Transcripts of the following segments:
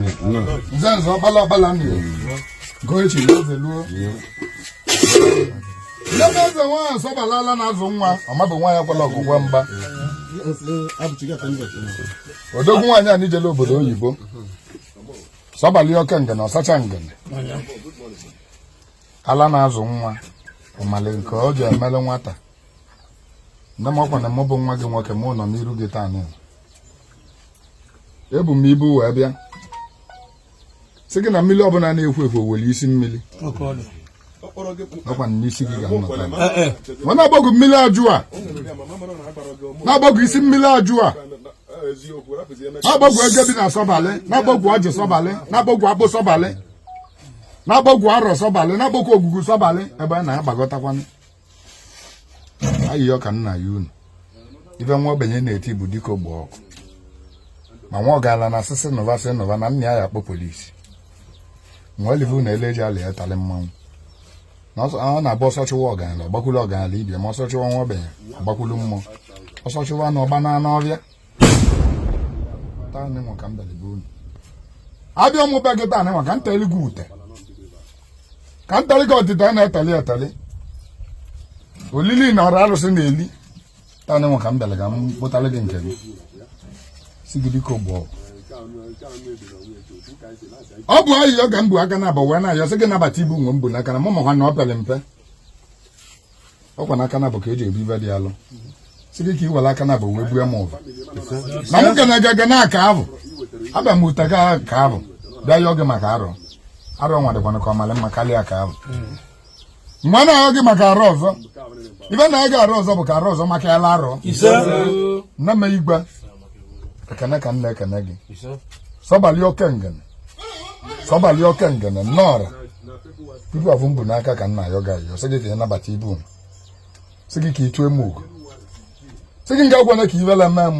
nze nze ọkpala ọkpala m gụọ echi na eze luo ebe eze nwaanyị sọbalị ala na-azụ nwa ọmabụ nwa ya kwala ọgwụgwọ mgba odogwu nwaanyị anyị jele obodo oyibo sọbalị oke ngene ọsacha ngene ala na-azụ nwa ọ malị nke ọ ji emele nwata nne m ọkwa na mụ bụ nwa gị nwoke mụ nọ n'iru gị taa nụ ebu m ibu wee bịa sị gị na mmiri ọbụla na-ekwo ekwo nwere isi mmiri ọkwa na n'isi gị ka m nọ taa ma na-akpọku mmiri ajụ a na-akpọku isi mmiri ajụ a na-akpọku eke bi na sọbalị na-akpọku ọjị sọbalị na-akpọku akpụ sọbalị na-akpọku arọ sọbalị na-akpọku ogugu sọbalị ebe a na-akpọkọtakwanụ ayịyọ ka m na-ayọ unu ife nwa ogbenye na-eti bụ dịka ogbe ọkụ ma nwa ọgalanya sị sị nọva sị nọva na nna ya ya-akpọ polisi ma olive na ele eji alị etalị mmanwụ na ọ na-abụ ọsọ chụwa ọgalanya ọ gbakwulu ọgalanya ibe ya ma ọsọ chụwa nwa ogbenye ọ gbakwulu mmụọ ọsọ chụwa anụ ọ gbanaa nụ ọvịa abịa m be gị taa nị nwa ka m teli gị ute ka m teli gị otite a na-eteli eteli olili n'arọ arụsị na-eli taa nị nwa ka m bịara ka m butara gị nke gị sị gị biko bụ ọ bụ ayịyọ ka m bu aka naabọ wee na-ayọ sị gị nabata ibu nwa m bu n'aka na mụ makwa na ọ pere mpe ọkwa n'aka naabọ ka e ji ebu ive dị alọ sị gị ka i were aka naabọ wee bue m ụva na m ga na-aga ga n'aka avụ abịa m ụta ga aka avụ bịa yọọ gị maka arọ arọ nwa dịkwana ka ọ malị mma karịa aka avụ mgbe a na-ayọ gị maka arọ ọzọ ive na-aga arọ ọzọ bụ ka arọ ọzọ makalịa arọ nne m igwe ekene ka m na-ekene gị sọbalị oke ngene sọbalị oke ngene nnọọra ibu afụ m bu n'aka ka m na-ayọ gị ayọ sị gị ka ị nabata ibu m sị gị ka ị chụọ m ugo sị gị ekwekwana ka ivele mee m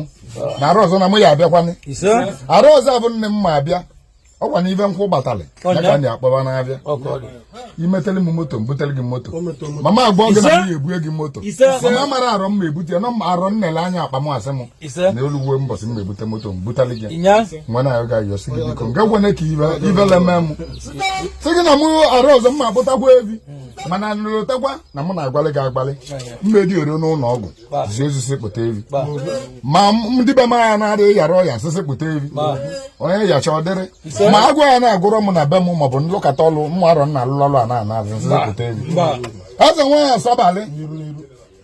na arọ ọzọ na mụ ya-abịakwanị arọ ọzọ bụ nne m ma abịa ọkwa na ive nkwụ gbatalị ya ka ndị akpọba na-abịa i metele m moto m butere gị moto mama agwa gị na m ga-ebue gị moto mama mara arọ m ma ebute ya na arọ nnele anya akpa m asị m ise na o luwe mbọsị m na-ebute moto m butali gị inya nwa na-ayọ gị ayọ sị gị biko ekwekwana ka ive ivele mee m sị gị na mụ arọ ọzọ m na-akpụtakwa evi mana nlụtakwa na mụ na-agbalị gị agbalị mmedi oro n'ụlọ ọgwụ zi ozi sị kpụta evi ba ma m- ndị be m anya na-adịghị yara ọya sị sị kpụta evi onye yacha ọ dịrị Ise. ma agwa ya na-agụrọ m na be m maọbụ nlụkọta ọlụ mụ arọ m na-alụlụ ọlụ a na-ana azụ sị sị kpụta evi ba eze nwaanyị sọbalị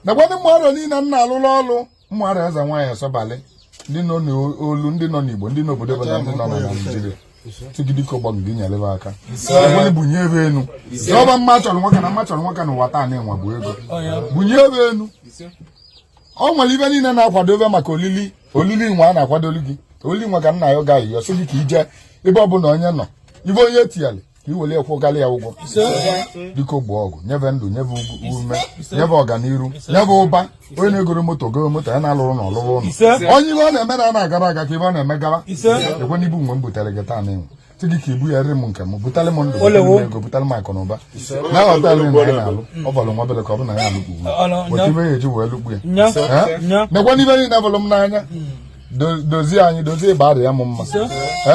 nakwa ndị mmadụ niile m na-alụlụ ọlụ ụmụada eze nwaanyị asọbalị ndị nọ n'olu ndị nọ n'igbo ndị n'obodo ebe ndị nọ na naijiria sị gị biko ogbu ọgụ gị nyele be aka onye bunye be enu ọba mma chọrọ nwoke na mma chọrọ nwoke n'ụwa taa na-enwe bụ ego bunye be enu ọ nwere ibe niile na-akwadobe maka olili olili nwa a na-akwadolu gị olili nwa ka nna ya ga ayịyọ sị gị ka i je ebe ọ bụla onye nọ ibe onye tiyali ka i were kwụghara ya ụgwọ biko ogbu ọgụ nye be ndụ nye be ume nye be ọganiru nye be ụba onye na-egoro moto goro moto onye na-alụrọ ụnọ lụrụ ụlọ onye ibe ọ na-eme na na-agarọ aga ka ibe ọ na-eme gara nekwe n'ibu mgbe m butere gị taa n'ịnwụ sị gị ka ibu ya rị m nke m butale m ndụ ego butale m akụ na ụba na họtelụ na ya na-alụ ọ bụlụ nwa obele ka ọ bụ na ya alụkpu otu ibe ya eji wee lụkpu ya nekwe n'ibe niile abụlụ m n'anya dozie anyị dozie ịba arịa m mma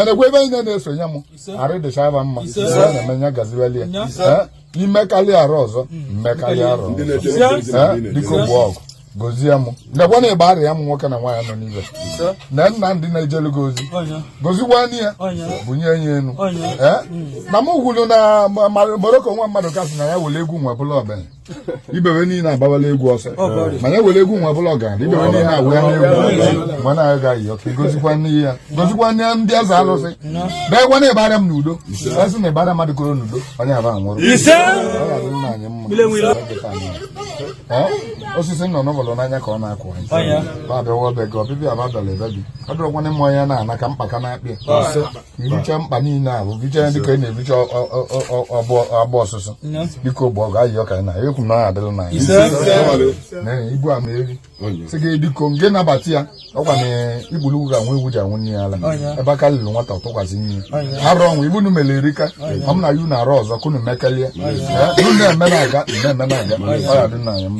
nekwe ebe niile na-esonye m arụ dịcha aba mma na-eme ya gaziweli ya i mekarị arọ ọzọ mekarị arọ ọzọ biko ogbu ọgụ gozie m lekwa na ịgba arịa m nwoke na nwaanyị nọ n'ibe na nna ndị na-ejelu gị ozi gozikwanụ ya bunye ya enu na m gwuru na moroko nwa mmadụ kasị na ya were egwu nwa bụla ọbịa ibebe niile agbawala egwu ọsọ mana ewere egwu nwa bụla ọgaranya ibebe niile awụ ya n'egwu mana anyị gaghị ọka gozikwanụ ya gozikwanụ ndị eze alụsị nekwa na ịbara m n'udo asị na ịbara mmadụ koro n'udo onye aba nwụrụ osisi nọ n'ụbọlụ n'anya ka ọ na-akụ anyị abịawa be gị ọbịbịa ababịala ebe gị ọ dịrọkwana ịmụ onye na-ana ka mkpaka na-akpị irucha mkpa niile ahụ vicha ya dịka ị na-evicha agba ọsụsụ biko ogbu ọgụ ayị ọka na ekwu na ọ adịla na anyị ibu ama eri sị gị biko ngị nabata ya ọkwa na igburu ugwu ka nwa ewu ji aṅụ nne ya ala ebe aka luru nwata ọ tụkwasị nne ya arụ ọnwụ ibe unu mere erika ọ m na-ayọ n'arọ ọzọ ka unu mekelie unu na-eme na-aga na-eme na-aga ọ ya-adịlị anyị mma